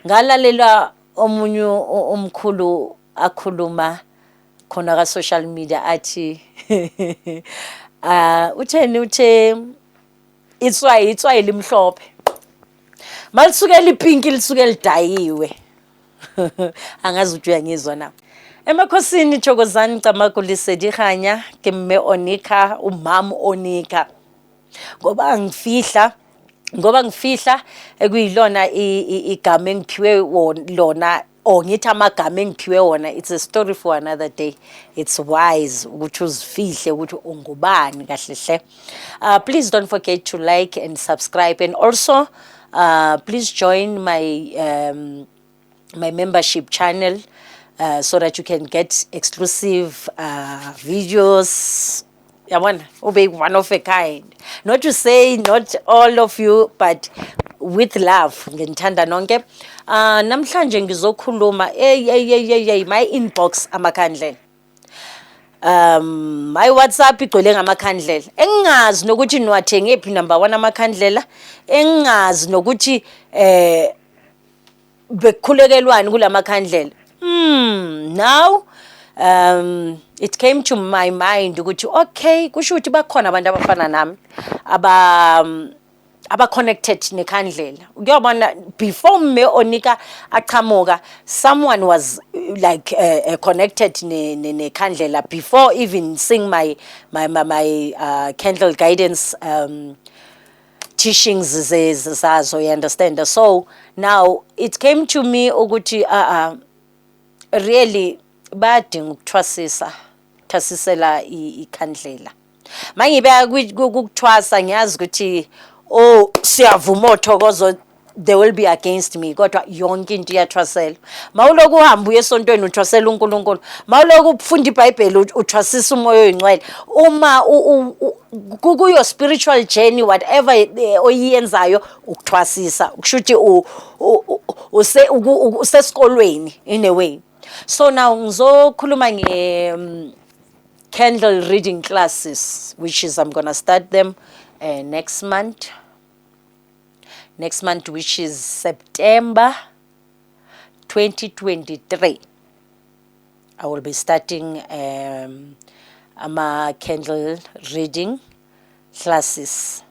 ngalalela omunye umkhulu akhuluma khona ka social media athi uh, utheni uthe itswayi itswayi limhlophe malisuke lipinki lisuke lidayiwe angazi ukuthi uyangizwa na emakhosini thokozani camagulisedikhanya ke mme onika umam onika ngoba angifihla ngoba ngifihla ekuyilona igama engiphiwe lona or ngithi amagama engiphiwe wona it's a story for another day it's wise ukuthi uzifihle ukuthi ungubani kahle hle uh, please don't forget to like and subscribe and also uh, please join my um, my membership channel uh, so that you can get exclusive uh, videos yabona ube one of a kind not to say not all of you but with love nginithanda nonke uh, namhlanje ngizokhuluma hey hey hey hey my inbox amakhandlela um my whatsapp igcwele ngamakhandlela engingazi nokuthi niwathengephi number 1 amakhandlela engingazi nokuthi eh bekukhulekelwani kulamakhandlela mm now um it came to my mind ukuthi okay kusho ukuthi bakhona abantu abafana nami aba um, aba connected nekhandlela kuyobona before me onika achamuka someone was like uh, uh, connected nekhandlela ne, before even seeing my my my, my uh, candle guidance um teachings zazo you understand so now it came to me ukuthi a uh, a uh, really bayadinga ukuthwasisa thasisela ikhandlela mangibe ukuthwasa ngiyazi ukuthi oh siyavuma othokozo they will be against me kodwa yonke into iyathwasela mawuloku uhamba uye esontweni uthwasela uNkulunkulu mawuloku ufunda iBhayibheli uthwasisa umoya oyingcwele uma kuyo spiritual journey whatever eh, oyiyenzayo ukuthwasisa ukushuthi use usesikolweni in a way so now ngizokhuluma nge mm, candle reading classes which is I'm going to start them uh, next month next month which is September 2023 I will be starting um, ama candle reading classes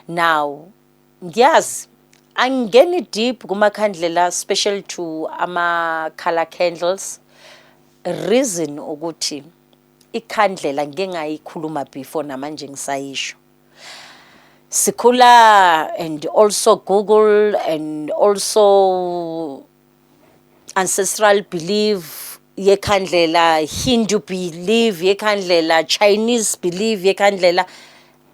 now ngiyazi angingeni deep kumakhandlela special to ama color candles reason ukuthi ikhandlela ngingayikhuluma before namanje ngisayisho sikhula and also google and also ancestral belief yekhandlela hindu belief yekhandlela chinese belief yekhandlela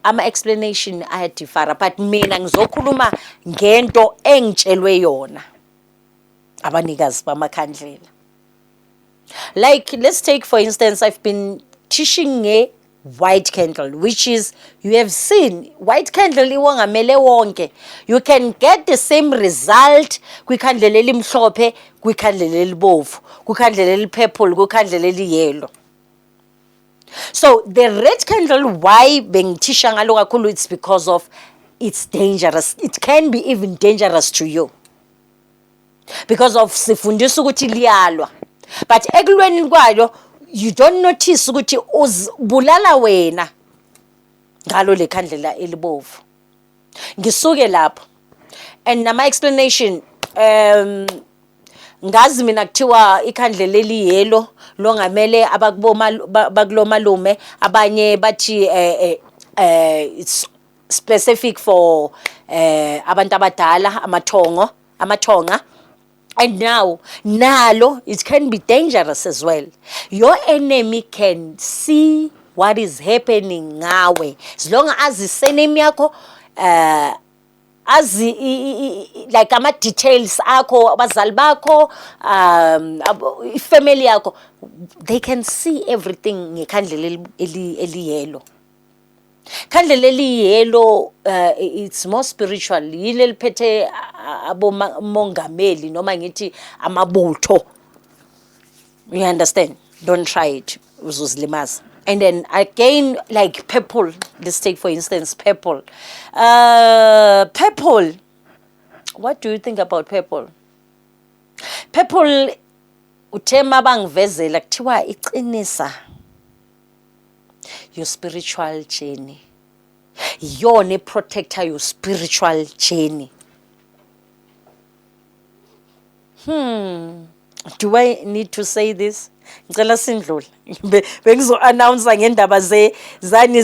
ama-explanation ayadifara but mina ngizokhuluma ngento engitshelwe yona abanikazi bamakhandlela like let's take for instance i've been teaching nge white candle which is you have seen white candle iwongamele wonke you can get the same result kwikhandlela elimhlophe kwikhandlela elibovu kwikhandlela elipurple kwikhandlela eliyellow so the red candle why bengithisha ngalo kakhulu it's because of it's dangerous it can be even dangerous to you because of sifundisa ukuthi liyalwa but ekulweni kwayo you don't notice ukuthi uzibulala wena ngalo lekhandlela elibovu ngisuke lapho and nama explanation um ngazi mina kuthiwa ikhandle leli yelo longamele abakuboma bakulomalume abanye bathi eh, eh eh it's specific for eh abantu abadala amathongo amathonga and now nalo it can be dangerous as well your enemy can see what is happening ngawe as long as isename yakho uh, azi like ama details akho abazali bakho um ifamily yakho they can see everything ngekhandlela eliyelo Khandle leli yellow uh, it's more spiritual yile liphethe abomongameli noma ngithi amabutho you understand don't try it uzozilimaza and then again like purple let's take for instance purple uh, purple what do you think about purple purple uthe mabangivezela kuthiwa iqinisa your spiritual journey yiyona eprotector your spiritual journey hmm do i need to say this ngicela sindlule bengizo-announsa ngendaba zani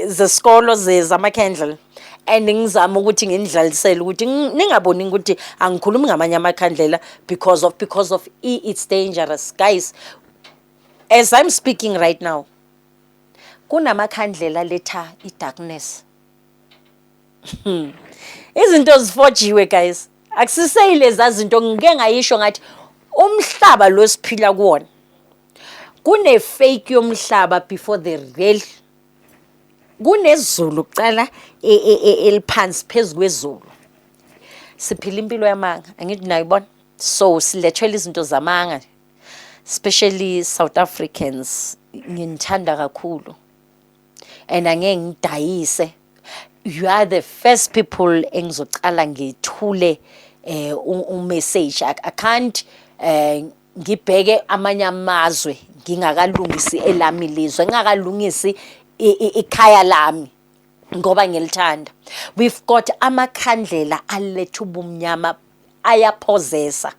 zesikolo zama-candle and ngizama ukuthi nginidlalisele ukuthi ningaboni ukuthi angikhulumi ngamanye amakhandlela because of because of e it's dangerous guys As I'm speaking right now, kunamakhandlela letha i-darkness. Hmm. Izinto zifojiwe guys. Akusiseyileza zinto ngike ngayisho ngathi umhlaba lo siphila kuwona. Kune fake yomhlaba before the real. Kunezulu kucala e, e, e, eliphansi phezulu kwezulu. Siphila impilo yamanga. Angithi nayibona. So silethwele izinto zamanga. especially South Africans nginithanda kakhulu and angeke ngidayise you are the first people engizocala ngithule eh u message I, I can't eh ngibheke amanye amazwe ngingakalungisi elami lizwe ngingakalungisi ikhaya lami ngoba ngilithanda we've got amakhandlela aletha ubumnyama ayaphozesa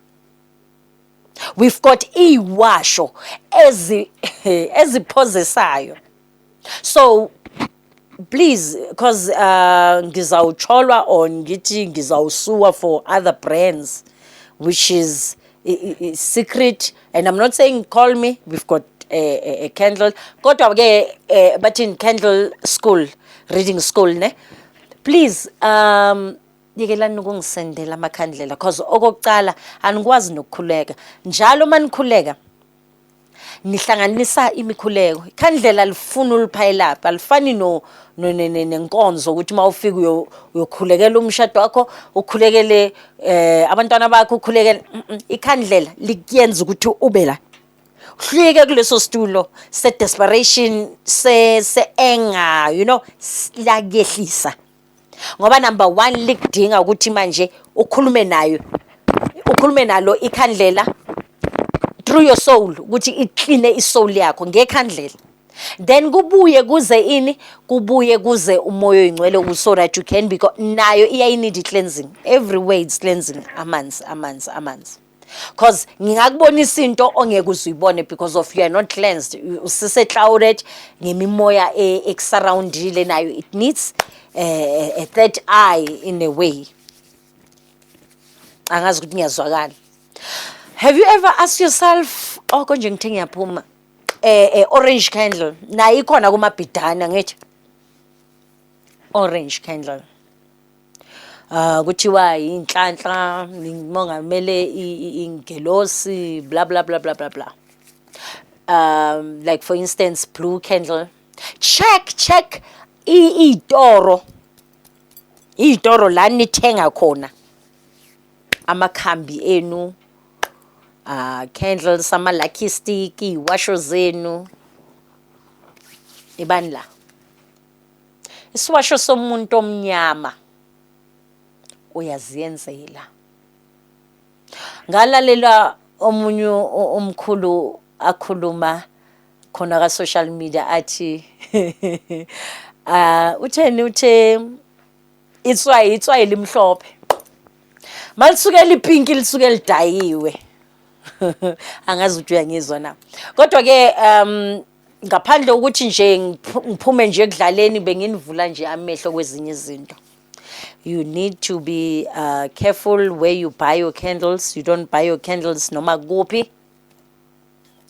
we've got iwasho ezi eziphozesayo so please because uh, ngizawutsholwa or ngithi ngizawusuwa for other brands which is secret and i'm not saying call me we've got a, a, a candle kodwa ke eh, bathini candle school reading school ne please um yekelani ukungisendela amakhandlela cause okokucala anikwazi nokukhuleka njalo uma nikhuleka nihlanganisa imikhuleko ikhandlela alifuni uliphayelaphi alifani no nenkonzo ukuthi uma ufika uyokhulekela umshado wakho ukhulekele eh abantwana bakho ukhulekele mm, mm, ikhandlela likuyenza ukuthi ube la uhlike kuleso situlo se desperation se se anger you know silakehlisa ngoba number one likudinga ukuthi manje ukhulume nayo ukhulume nalo ikhandlela through your soul ukuthi ikline isoul yakho ngekhandlela then kubuye kuze ini kubuye kuze umoya oyingcwele u so that you can because nayo iyayinida i-cleansing everywhere it's cleansing amanzi amanzi amanzi cause ngingakubonisa into ongeke uzuyibone because of you are not cleansed usise clouded ngemimoya e, ekusurroundile nayo it needs eh, a third eye in a way angazi ukuthi ngiyazwakala have you ever asked yourself oh konje ngithe ngiyaphuma eh, eh orange candle nayo ikhona kumabhidana ngithi orange candle Ah kuthiwa inhlanhla mongamele ingelosi bla bla bla bla bla bla. Um like for instance blue candle. Check check iy'toro iy'toro la nithenga khona amakhambi enu uh, candles ama-lucky stick iy'washo zenu ibani la isiwasho somuntu omnyama uyaziyenzela ngalalela omunye umkhulu akhuluma khona ka social media athi uh, utheni uthe itswayi itswayi limhlophe malisuke lipinki lisuke lidayiwe angazi ukuthi uyangizwa na kodwa ke um ngaphandle ukuthi nje ngiphume nje ekudlaleni benginivula nje amehlo kwezinye izinto you need to be uh, careful where you buy your candles you don't buy your candles noma kuphi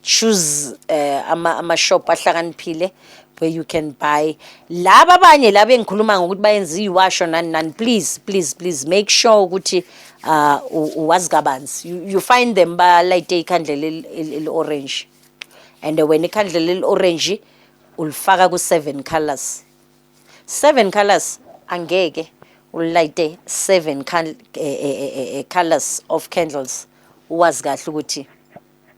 choose uh, ama ama shop ahlakaniphile where you can buy laba abanye laba engikhuluma ngokuthi bayenza iwasho nani nani please please please make sure ukuthi uh, wazi kabanzi you, you find them balayite ikhandlela eli-orange and wena ikhandla leli orange ulifaka ku seven colors seven colors angeke ulayite seven eh, eh, eh, colors of candles uwazi kahle ukuthi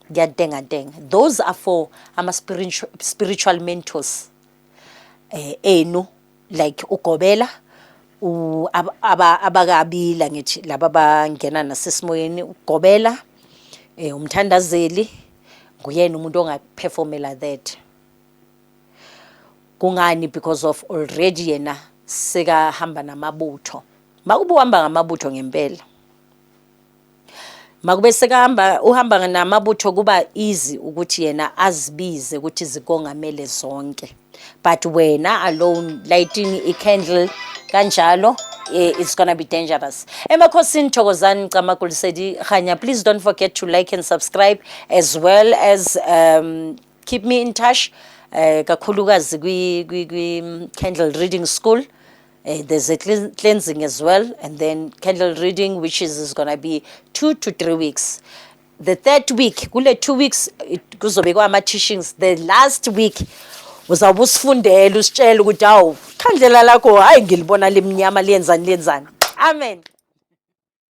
kuyatengatenga those are for ama spiritual mentors eh enu like ugobela u- ab- aba- abakabila ngithi laba abangena nasesimoyeni ugobela um umthandazeli nguyena umuntu ongaphefomela that kungani because of already yena sekahamba namabutho makube uhamba ngamabutho ngempela makube sekahamba uhamba namabutho kuba easy ukuthi yena azibize ukuthi zikongamele zonke but wena alone lighting i-candle kanjalo eh, it's gonna be dangerous emakhosini thokozani camagulisedi hanya please don't forget to like and subscribe as well as um, keep me in touch eh, kakhulukazi kwi-candle reading school Uh, there's a cleansing as well, and then candle reading, which is, is going to be two to three weeks. The third week, kule two weeks, kuzobe kwama-teachings. The last week, uzawube usifundela usitshela ukuthi awu khandlela lakho hhayi ngilibona limnyama liyenzani liyenzani amen